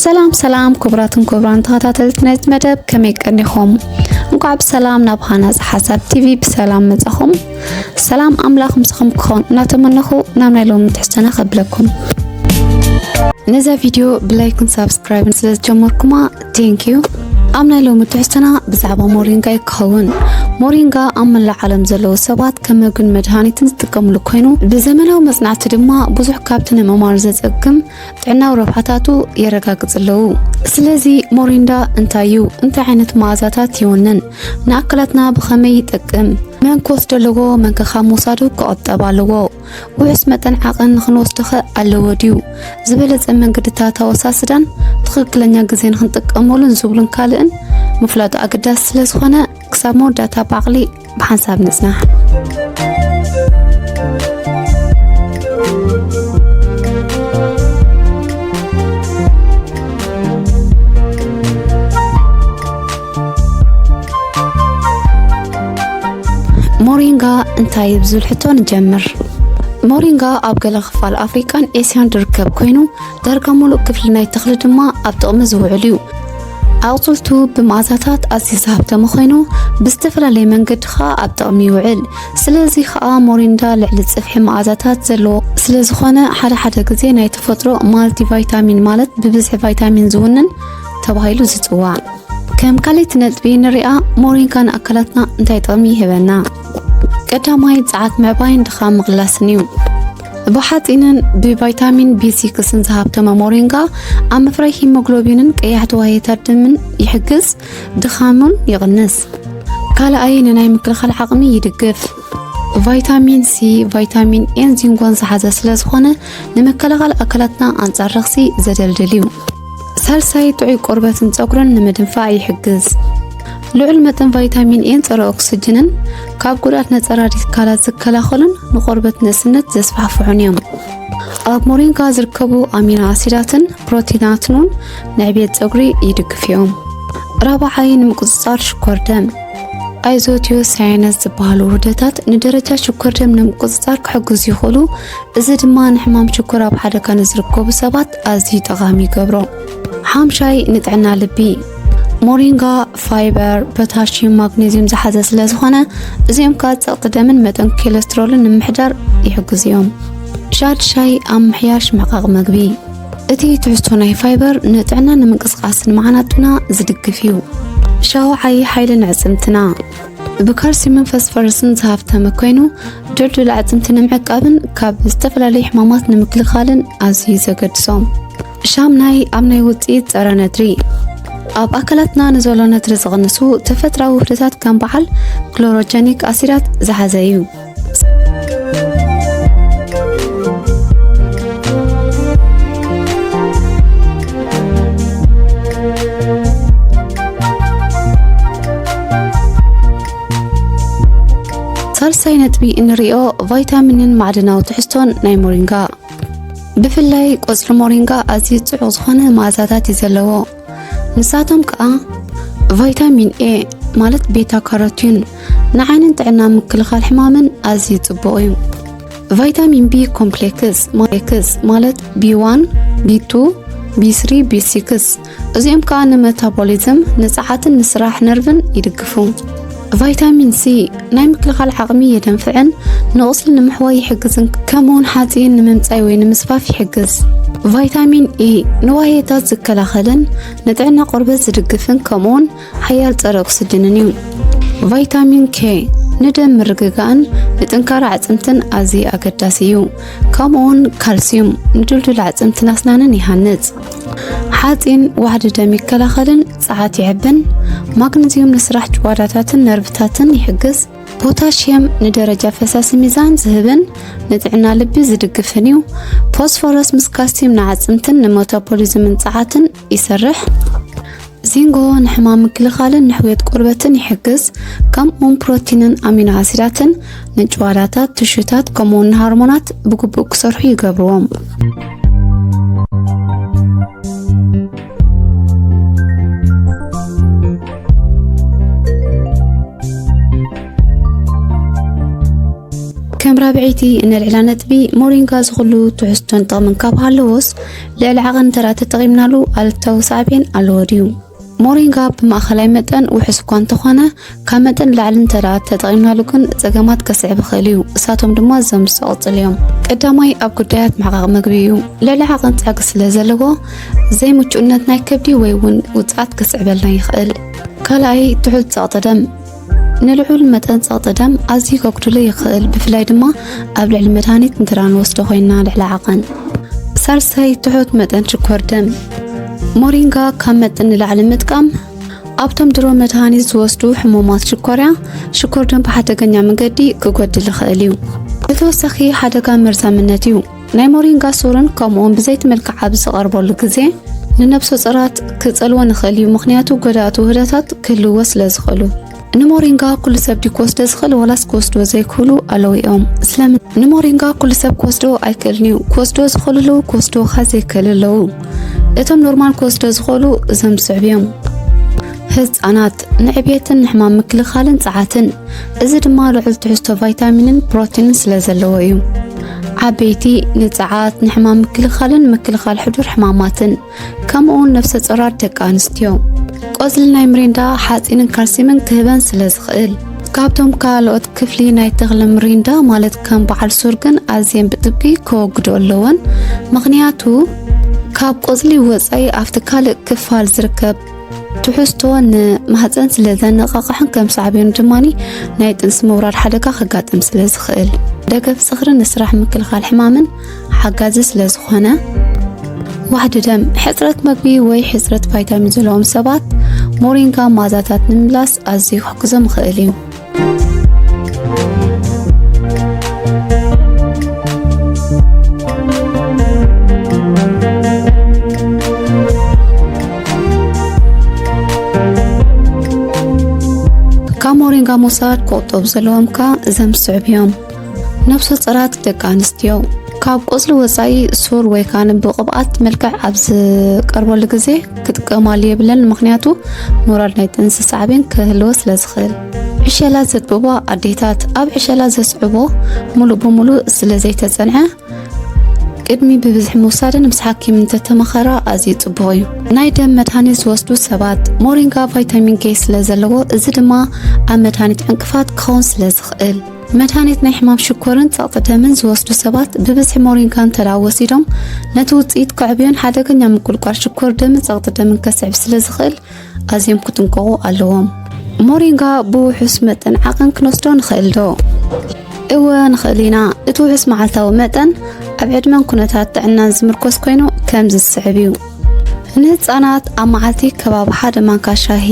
ሰላም ሰላም ክቡራትን ክቡራን ተኸታተልቲ ናይዚ መደብ ከመይ ቀኒኹም? እንኳዕ ብሰላም ናብ ሃናፅ ሓሳብ ቲቪ ብሰላም መጻኹም። ሰላም ኣምላኽ ምስኹም ክኾን እናተመነኹ ናብ ናይ ሎሚ ትሕዝቶና ከብለኩም። ነዛ ቪድዮ ብላይክን ሳብስክራይብን ስለ ዝጀመርኩማ ቴንኪዩ ኣብ ናይ ሎሚ ትሕዝቶና ብዛዕባ ሞሪንጋ እዩ ክኸውን ሞሪንጋ ኣብ መላእ ዓለም ዘለዉ ሰባት ከም መግን መድሃኒትን ዝጥቀምሉ ኮይኑ ብዘመናዊ መጽናዕቲ ድማ ብዙሕ ካብቲ ንምማር ዘጸግም ጥዕናዊ ረብሓታቱ የረጋግጽ ኣለዉ ስለዚ ሞሪንዳ እንታይ እዩ እንታይ ዓይነት መኣዛታት ይውንን ንኣካላትና ብኸመይ ይጠቅም መንኮስ ደለዎ መንከኻ ምውሳዱ ክቐጠብ ኣለዎ ውሑስ መጠን ዓቐን ንኽንወስዶኸ ኣለዎ ድዩ? ዝበለጸ መንገድታት ኣወሳስዳን ትኽክለኛ ግዜ ንኽንጥቀመሉን ዝብሉን ካልእን ምፍላጡ ኣገዳሲ ስለ ዝኾነ ክሳብ መወዳእታ ብዓቕሊ ብሓንሳብ ንጽናሕ። ሞሪንጋ እንታይ እዩ ብዝብል ሕቶ ንጀምር ሞሪንጋ ኣብ ገለ ክፋል ኣፍሪቃን ኤስያን ዝርከብ ኮይኑ ዳርጋ ሙሉእ ክፍሊ ናይ ተኽሊ ድማ ኣብ ጥቕሚ ዝውዕል እዩ ኣቑፅልቱ ብመኣዛታት ኣዝዩ ዝሃብተመ ኮይኑ ብዝተፈላለየ መንገዲ ከዓ ኣብ ጥቕሚ ይውዕል ስለዚ ከዓ ሞሪንዳ ልዕሊ ፅፍሒ መኣዛታት ዘለዎ ስለ ዝኾነ ሓደ ሓደ ግዜ ናይ ተፈጥሮ ማልቲ ቫይታሚን ማለት ብብዝሒ ቫይታሚን ዝውንን ተባሂሉ ዝፅዋዕ ከም ካልእቲ ነጥቢ ንርኣ ሞሪንካ ንኣካላትና እንታይ ጥቕሚ ይህበና ቀዳማይ ጸዓት ምዕባይን ድኻ ምቕላስን እዩ ብሓጺንን ብቫይታሚን ቢሲክስን ዝሃብተመ ሞሪንጋ ኣብ ምፍራይ ሂሞግሎቢንን ቀያሕቲ ዋየታት ድምን ይሕግዝ ድኻሙን ይቕንስ ካልኣይ ንናይ ምክልኻል ዓቕሚ ይድግፍ ቫይታሚን ሲ፣ ቫይታሚን ኤን ዚንጎን ዝሓዘ ስለ ዝኾነ ንምክልኻል ኣካላትና ኣንጻር ረኽሲ ዘደልድል እዩ። ሳልሳይ ጥዑይ ቆርበትን ጸጉርን ንምድንፋዕ ይሕግዝ። ልዑል መጠን ቫይታሚን ኤን ጸረ ኦክስጅንን ካብ ጉድኣት ነጸ ራዲካላት ዝከላኸሉን ንቆርበት ነስነት ዘስፋሕፍሑን እዮም። ኣብ ሞሪንጋ ዝርከቡ ኣሚኖ ኣሲዳትን ፕሮቲናትን እውን ንዕብየት ጸጉሪ ይድግፉ እዮም። ራብዓይ ንምቁጽጻር ሽኮር ደም ኣይዞትዮ ሳይነስ ዝበሃሉ ውህደታት ንደረጃ ሽኮር ደም ንምቁፅፃር ክሕግዙ ይኽእሉ። እዚ ድማ ንሕማም ሽኮር ኣብ ሓደ ካን ዝርከቡ ሰባት ኣዝዩ ጠቓሚ ይገብሮ። ሓምሻይ ንጥዕና ልቢ ሞሪንጋ ፋይበር፣ ፖታሽየም፣ ማግኔዚየም ዝሓዘ ስለ ዝኾነ እዚኦም ከዓ ፀቕጢ ደምን መጠን ኮሌስትሮልን ንምሕዳር ይሕግዙ እዮም። ሻድሻይ ኣብ ምሕያሽ ምሕቃቕ መግቢ እቲ ትሕዝቶ ናይ ፋይበር ንጥዕና ንምንቅስቓስ ንመዓናጡና ዝድግፍ እዩ ሻው ዓይ ሓይሊ ንዕፅምትና ብካልሲየምን ፈስፈረስን ዝሃፍተመ ኮይኑ ድልዱል ኣዕፅምቲ ንምዕቃብን ካብ ዝተፈላለዩ ሕማማት ንምክልኻልን ኣዝዩ ዘገድሶም ሻምናይ ኣብ ናይ ውፅኢት ፀረ ነድሪ ኣብ ኣካላትና ንዘሎ ነድሪ ዝቕንሱ ተፈጥራዊ ውህደታት ከም በዓል ክሎሮጀኒክ ኣሲዳት ዝሓዘ እዩ ሳልሳይ ነጥቢ እንሪኦ ቫይታሚንን ማዕድናዊ ትሕዝቶን ናይ ሞሪንጋ ብፍላይ ቆፅሊ ሞሪንጋ ኣዝዩ ፅዑቕ ዝኾነ መኣዛታት እዩ ዘለዎ። ንሳቶም ከዓ ቫይታሚን ኤ ማለት ቤታ ካሮቲን ንዓይንን ጥዕና ምክልኻል ሕማምን ኣዝዩ ጽቡቕ እዩ ቫይታሚን ቢ ኮምፕሌክስ ማክስ ማለት ቢ1 ቢ2 ቢ3 ቢ6 እዚኦም ከዓ ንመታቦሊዝም ንፀዓትን ንስራሕ ነርቭን ይድግፉ ቫይታሚን ሲ ናይ ምክልኻል ዓቕሚ የደንፍዕን ንቑስሊ ንምሕዋይ ይሕግዝን ከምኡውን ሓፂን ንምምፃይ ወይ ንምስፋፍ ይሕግዝ ቫይታሚን ኢ ንዋየታት ዝከላኸልን ንጥዕና ቆርበት ዝድግፍን ከምኡውን ሓያል ፀረ ኦክስጅንን እዩ ቫይታሚን ኬ ንደም ምርግጋእን ንጥንካረ ኣዕፅምትን ኣዝዩ ኣገዳሲ እዩ ከምኡውን ካልሲዩም ንድልዱል ኣዕፅምትን ኣስናንን ይሃንፅ ሓፂን ዋሕዲ ደም ይከላኸልን ጸዓት ይሕብን፣ ማግነዝዩም ንስራሕ ጭዋዳታትን ነርቭታትን ይሕግዝ፣ ፖታሽየም ንደረጃ ፈሳሲ ሚዛን ዝህብን ንጥዕና ልቢ ዝድግፍን እዩ። ፎስፎረስ ምስ ካልሲየም ንዓጽምትን ንመታቦሊዝምን ጸዓትን ይሰርሕ። ዚንጎ ንሕማም ምክልኻልን ንሕውየት ቆርበትን ይሕግዝ። ከምኡውን ፕሮቲንን ኣሚኖ ኣሲዳትን ንጭዋዳታት፣ ትሹታት ከምኡውን ንሃርሞናት ብግቡእ ክሰርሑ ይገብርዎም። ከም ራብዐይቲ እነልዕላ ነጥቢ ሞሪንጋ ዝኹሉ ትሕዝቶን ጥቕምን ካብ ሃለዎስ ልዕሊ ዓቐን እንተ ተጠቒምናሉ ኣሉታዊ ሳዕቤን ኣለዎ ድዩ? ሞሪንጋ ብማእኸላይ መጠን ውሑስ እኳ እንተኾነ ካብ መጠን ንላዕሊ እንተደኣ ተጠቒምናሉ ግን ጸገማት ከስዕብ ይኽእል እዩ። እሳቶም ድማ እዞም ዝተቐጽሉ እዮም። ቀዳማይ ኣብ ጉዳያት ምሕቓቕ ምግቢ እዩ። ልዕሊ ዓቐን ጸግ ስለ ዘለዎ ዘይምቹእነት ናይ ከብዲ ወይ እውን ውጽኣት ከስዕበልና ይኽእል። ካልኣይ ትሑት ጸቕጢ ደም ንልዑል መጠን ጸቕጢ ደም ኣዝዩ ከጉድሎ ይኽእል፣ ብፍላይ ድማ ኣብ ልዕሊ መድሃኒት እንተ ንወስዶ ኮይንና ልዕሊ ዓቐን። ሳልሳይ ትሑት መጠን ሽኮር ደም ሞሪንጋ ካብ መጠን ንላዕሊ ምጥቃም ኣብቶም ድሮ መድሃኒት ዝወስዱ ሕሙማት ሽኮርያ፣ ሽኮር ደም ብሓደገኛ መንገዲ ክጎድል ይኽእል እዩ። ብተወሳኺ ሓደጋ መርዛምነት እዩ። ናይ ሞሪንጋ ሱርን ከምኡውን ብዘይቲ መልክዕ ኣብ ዝቐርበሉ ግዜ ንነብሰ ጾራት ክጸልወን ይኽእል እዩ፣ ምኽንያቱ ጎዳእቲ ውህደታት ክህልዎ ስለ ዝኽእሉ። ንሞሪንጋ ኩሉ ሰብ ድዩ ክወስዶ ዝኽእል ወላስ ክወስዶ ዘይክእሉ ኣለዉ እዮም? ስለምን ንሞሪንጋ ኩሉ ሰብ ክወስዶ ኣይክእልን እዩ። ክወስዶ ዝኽእሉ ኣለዉ፣ ክወስዶ ካ ዘይክእል ኣለዉ። እቶም ኖርማል ክወስዶ ዝኽእሉ እዞም ዝስዕብ እዮም። ህፃናት ንዕብየትን ንሕማም ምክልኻልን ፀዓትን፣ እዚ ድማ ልዑል ትሕዝቶ ቫይታሚንን ፕሮቲንን ስለ ዘለዎ እዩ። ዓበይቲ ንፀዓት፣ ንሕማም ምክልኻልን ምክልኻል ሕዱር ሕማማትን ከምኡውን ነፍሰ ጾራት ደቂ ኣንስትዮ ቆጽሊ ናይ ምሪንዳ ሓጺንን ካልሲምን ክህበን ስለ ዝኽእል ካብቶም ካልኦት ክፍሊ ናይ ተኽሊ ምሪንዳ ማለት ከም በዓል ሱር ግን ኣዝየን ብጥብቂ ከወግዶ ኣለወን ምክንያቱ ካብ ቆጽሊ ወፃኢ ኣብቲ ካልእ ክፋል ዝርከብ ትሕዝቶ ንማህፀን ስለ ዘነቃቕሕን ከም ሳዕቤኑ ድማ ናይ ጥንሲ ምውራድ ሓደጋ ከጋጥም ስለ ዝኽእል ደገፍ ዝኽሪ ንስራሕ ምክልኻል ሕማምን ሓጋዚ ስለ ዝኾነ ዋሕዲ ደም ሕፅረት መግቢ ወይ ሕፅረት ቫይታሚን ዘለዎም ሰባት ሞሪንጋ ማዛታት ንምምላስ ኣዝዩ ክሕግዞም ይኽእል እዩ። ካብ ሞሪንጋ ምውሳድ ክቑጠቡ ዘለዎምካ እዘም ዝስዕብ እዮም። ነፍሰ ጾራት ደቂ ኣንስትዮ ካብ ቆጽሊ ወጻኢ ሱር ወይ ከዓ ብቅብኣት መልክዕ ኣብ ዝቀርበሉ ግዜ ክጥቀማሉ የብለን ምክንያቱ ሞራል ናይ ጥንሲ ሳዕቤን ክህልዎ ስለ ዝኽእል ዕሸላ ዘጥብቦ ኣዴታት ኣብ ዕሸላ ዘስዕቦ ሙሉእ ብሙሉእ ስለ ዘይተጸንዐ ቅድሚ ብብዝሒ ምውሳድን ምስ ሓኪም እንተተመኸራ ኣዝዩ ጽቡቕ እዩ ናይ ደም መድሃኒት ዝወስዱ ሰባት ሞሪንጋ ቫይታሚን ኬ ስለ ዘለዎ እዚ ድማ ኣብ መድሃኒት ዕንቅፋት ክኸውን ስለ ዝኽእል መድሃኒት ናይ ሕማም ሽኮርን ጸቕጢ ደምን ዝወስዱ ሰባት ብብዝሒ ሞሪንጋ እንተደኣ ወሲዶም ነቲ ውጽኢት ከዕብዮን ሓደገኛ ምቁልቋል ሽኮር ደምን ጸቕጢ ደምን ከስዕብ ስለ ዝኽእል ኣዝዮም ክጥንቀቑ ኣለዎም። ሞሪንጋ ብውሑስ መጠን ዓቐን ክንወስዶ ንኽእል ዶ? እወ ንኽእል ኢና። እቲ ውሑስ መዓልታዊ መጠን ኣብ ዕድመን ኩነታት ጥዕናን ዝምርኮስ ኮይኑ ከምዚ ዝስዕብ እዩ። ንህፃናት ኣብ መዓልቲ ከባቢ ሓደ ማንካ ሻሂ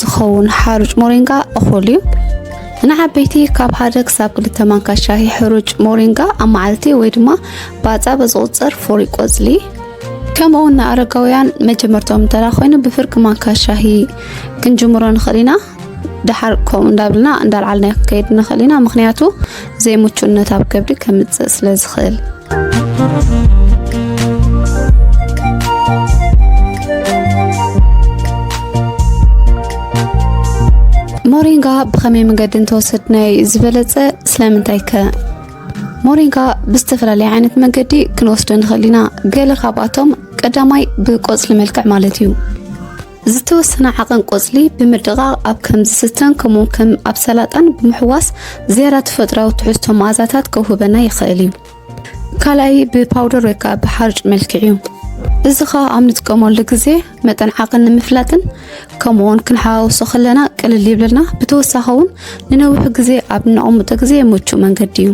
ዝኸውን ሓሩጭ ሞሪንጋ እኹል እዩ። ንዓበይቲ ካብ ሓደ ክሳብ ክልተ ማንካ ሻሂ ሕሩጭ ሞሪንጋ ኣብ መዓልቲ ወይ ድማ ባፃ በዝቑፅር ፍሪ ቆፅሊ ከምኡ እውን ንኣረጋውያን መጀመርቶም እንተላ ኮይኑ ብፍርቂ ማንካ ሻሂ ክንጅምሮ ንኽእል ኢና ድሓር ከምኡ እንዳብልና እንዳልዓልና ክንከይድ ንኽእል ኢና ምክንያቱ ዘይምቹነት ኣብ ከብዲ ከምፅእ ስለ ዝኽእል ሞሪንጋ ብኸመይ መንገዲ እንተወሰድ ናይ ዝበለፀ ስለምንታይ ከ ሞሪንጋ ብዝተፈላለየ ዓይነት መንገዲ ክንወስዶ ንኽእል ኢና ገለ ካብኣቶም ቀዳማይ ብቆፅሊ መልክዕ ማለት እዩ ዝተወሰነ ዓቐን ቆጽሊ ብምድቓቕ ኣብ ከም ዝስተን ከምኡውን ከም ኣብ ሰላጣን ብምሕዋስ ዝያዳ ተፈጥራዊ ትሕዝቶ መኣዛታት ከውህበና ይኽእል እዩ። ካልኣይ ብፓውደር ወይ ከዓ ብሓርጭ መልክዕ እዩ። እዚ ከዓ ኣብ ንጥቀመሉ ግዜ መጠን ዓቕን ንምፍላጥን ከምኡውን ክንሓዋውሶ ከለና ቅልል ይብለልና። ብተወሳኺ እውን ንነዊሕ ግዜ ኣብ ነቕምጦ ግዜ ምቹእ መንገዲ እዩ።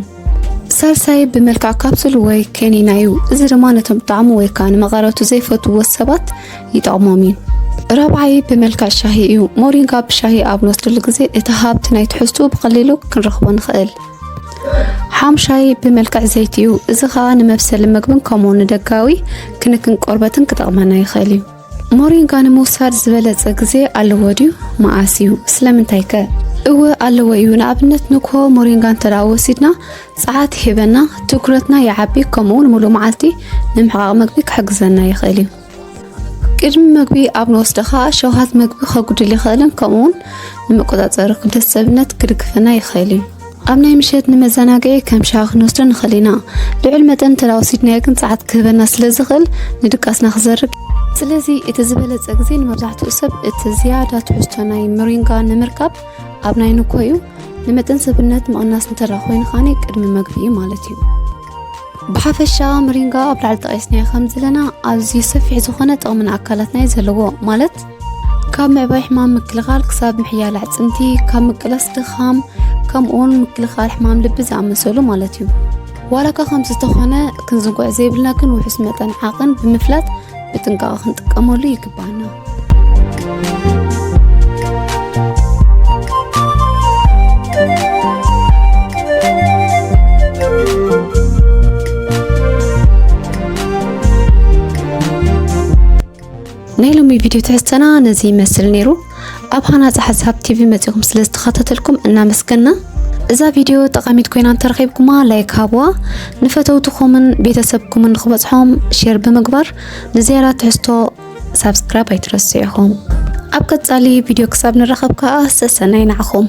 ሳልሳይ ብመልክዕ ካፕሱል ወይ ከኒና እዩ። እዚ ድማ ነቶም ጣዕሙ ወይ ከዓ ንመቐረቱ ዘይፈትዎ ሰባት ይጠቕሞም እዩ። ራብዓይ ብመልክዕ ሻሂ እዩ። ሞሪንጋ ብሻሂ ኣብ ንወስደሉ ግዜ እቲ ሃብቲ ናይ ትሕዝቱ ብቐሊሉ ክንረኽቦ ንኽእል። ሓምሻይ ብመልክዕ ዘይቲ እዩ። እዚ ከዓ ንመብሰሊ ምግብን ከምኡ ንደጋዊ ክንክን ቆርበትን ክጠቕመና ይኽእል እዩ። ሞሪንጋ ንምውሳድ ዝበለጸ ግዜ ኣለዎ ድዩ? መዓስ እዩ? ስለምንታይ ከ? እወ ኣለዎ እዩ። ንኣብነት ንግሆ ሞሪንጋ እንተ ወሲድና ጸዓት ይህበና፣ ትኩረትና ይዓቢ፣ ከምኡውን ሙሉእ መዓልቲ ንምሕቓቕ መግቢ ክሕግዘና ይኽእል እዩ። ቅድሚ መግቢ ኣብ ንወስዶ ከዓ ሸውሃት መግቢ ከጉድል ይኽእልን ከምኡውን ንምቆጻጸሪ ክብደት ሰብነት ክድግፈና ይኽእል እዩ። ኣብ ናይ ምሸት ንመዘናግዒ ከም ሻሂ ክንወስዶ ንኽእል ኢና። ልዑል መጠን እንተወሲድናዮ ግን ጸዓት ክህበና ስለዝኽእል ንድቃስና ክዘርግ ስለዚ እቲ ዝበለጸ ግዜ ንመብዛሕትኡ ሰብ እቲ ዝያዳ ትሕዝቶ ናይ ምሪንጋ ንምርካብ ኣብ ናይ ንኮ እዩ ንመጠን ሰብነት ምቕናስ እንተ ኮይኑ ኻኒ ቅድሚ መግቢ እዩ ማለት እዩ ብሓፈሻ ምሪንጋ ኣብ ላዕሊ ጠቒስናዮ ከም ዘለና ኣዝዩ ሰፊሕ ዝኾነ ጥቕሚ ንኣካላትና እዩ ዘለዎ ማለት ካብ ምዕባይ ሕማም ምክልኻል ክሳብ ምሕያል ኣዕፅምቲ ካብ ምቅላስ ድኻም ከምኡውን ምክልኻል ሕማም ልቢ ዝኣመሰሉ ማለት እዩ ዋላ እኳ ከምዚ ዝተኾነ ክንዝንጉዕ ዘይብልና ግን ውሑስ መጠን ዓቕን ብምፍላጥ ብጥንቃቐ ክንጥቀመሉ ይግባና ናይ ሎሚ ቪድዮ ትሕዝተና ነዚ ይመስል ነይሩ። ኣብ ሃናፂ ሓሳብ ቲቪ መፂኹም ስለ ዝተኸታተልኩም እናመስገና እዛ ቪድዮ ጠቃሚት ኮይና እንተረኺብኩማ ላይክ ሃብዋ፣ ንፈተውትኹምን ቤተሰብኩምን ንክበፅሖም ሼር ብምግባር ንዝያዳ ትሕዝቶ ሳብስክራይብ ኣይትረሱ ኢኹም። ኣብ ቀፃሊ ቪድዮ ክሳብ ንራኸብ ከዓ ሰሰናይ ናዕኹም።